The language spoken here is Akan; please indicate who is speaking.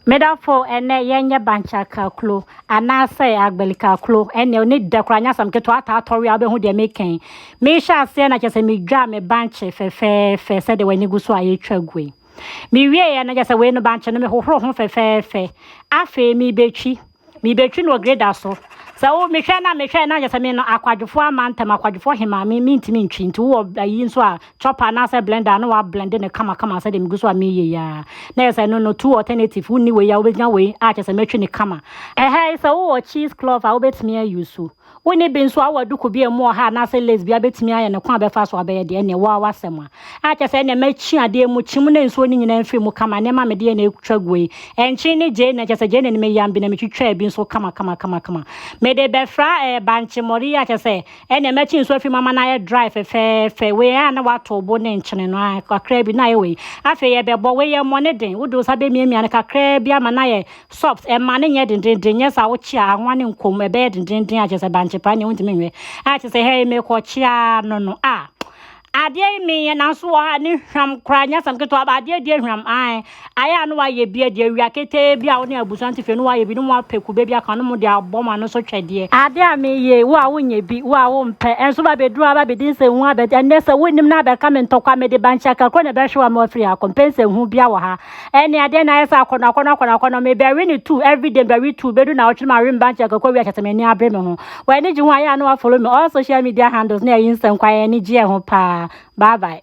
Speaker 1: Medafo ɛnɛ yɛnyɛ bankya kaklo anaasɛ agbali kaklo ɛnɛ ɔne dɛ koraa nyɛ asɛm ketewa ataa tɔwe a wobɛhu deɛ meka yi mehyɛ aseɛ na kyɛ sɛ medwaa me bankye fɛfɛɛfɛ sɛdeɛ w'ani gu so a yɛtwa gu yi mewieɛ na kyɛ sɛ wei no bankye no mehohoro ho fɛfɛɛfɛ afei mebɛtwi mebɛtwi no wɔ greda so sɛ wo mehwɛ na mehwɛ na nyɛ sɛ me no akwadwofoɔ ama ntɛm akwadwofoɔ hema me mentumi ntwi nti wowɔ ayi nso a chopper anaasɛ blender a na wablende no kamakama sɛ deɛ megu so a meyɛ yi a na yɛ sɛ no no two alternative wonni wei a wobɛgyina wei a kyɛ sɛ mɛtwi ne kama ɛhɛi sɛ wowɔ cheese cloth a wobɛtumi ayi so Wo ne bi nso awɔ duku bea mu ɔha anaasɛ lesbia bɛtumi ayɛ no kwan a bɛfa so abɛyɛ deɛ ɛneɛ wo ara w'asɛm a. A kyɛ sɛ ɛneɛ mɛkyi adeɛ mu kyim na nsuo no nyinaa mfiri mu kama nneɛma a mede yɛ na ɛtwa guo yi. Ɛnkyee ne gyee na kyɛ sɛ gyee na ne meyam bi na metwitwaa bi nso kamakamakamakama. Mede bɛfra ɛɛ bankye mmɔre yi a kyɛ sɛ ɛneɛ mɛkye nsuo afiri mu ama no ayɛ dry fɛfɛɛfɛ. Wei a na w'ato bo ne nkyene no aa kakraa bi na ayɛ wei. Afei yɛbɛbɔ wei yɛ mmɔ ne den. Wode wo nsa bɛmiamia no kakraa bi ama no ayɛ Soft, ɛmma no nyɛ dendenden, nyɛ saa wokyea a anwa no nkɔ mu, ɛbɛyɛ dendenden a kyerɛ sɛ bankye paa nea wontumi nhwɛ. A kyerɛ sɛ hɛn mekɔkyea no no a adeɛ yi menyɛ nanso wɔ ha ne hwam koraa nyɛ asɛm ketewa ba adeɛ deɛ hwam ae ayɛ a no wayɛ bi deɛ awia ketee bi a wo ne abusua no te fie no wayɛ bi no mu apɛ kube bi aka no mu de abɔ ma no so twɛdeɛ adeɛ a meyɛ wo a wonyɛ bi wo a wompɛ ɛnso ba bɛduru aba bɛdi nsɛnhu abɛ ɛnɛ sɛ wonim no abɛka me ntɔkwa mede bankye akakuro na ɛbɛhwe wa ma wafiri ha kɔmpɛ nsɛnhu bia wɔ ha Ɛnne adeɛ na ayɛ sɛ akɔnɔ akɔnɔ akɔnɔ akɔnɔ mebɛwe ne two everyday mebɛwe two bɛdu na ɔtwe no ma remba nkyɛ kɔkɔ wi akyɛsɛ m'ani abere me ho wɔ ani gye ho ayɛ a na wafolo me all social media handles na ɛyi nsɛm kwa yɛ ani gye yɛ ho paa bye bye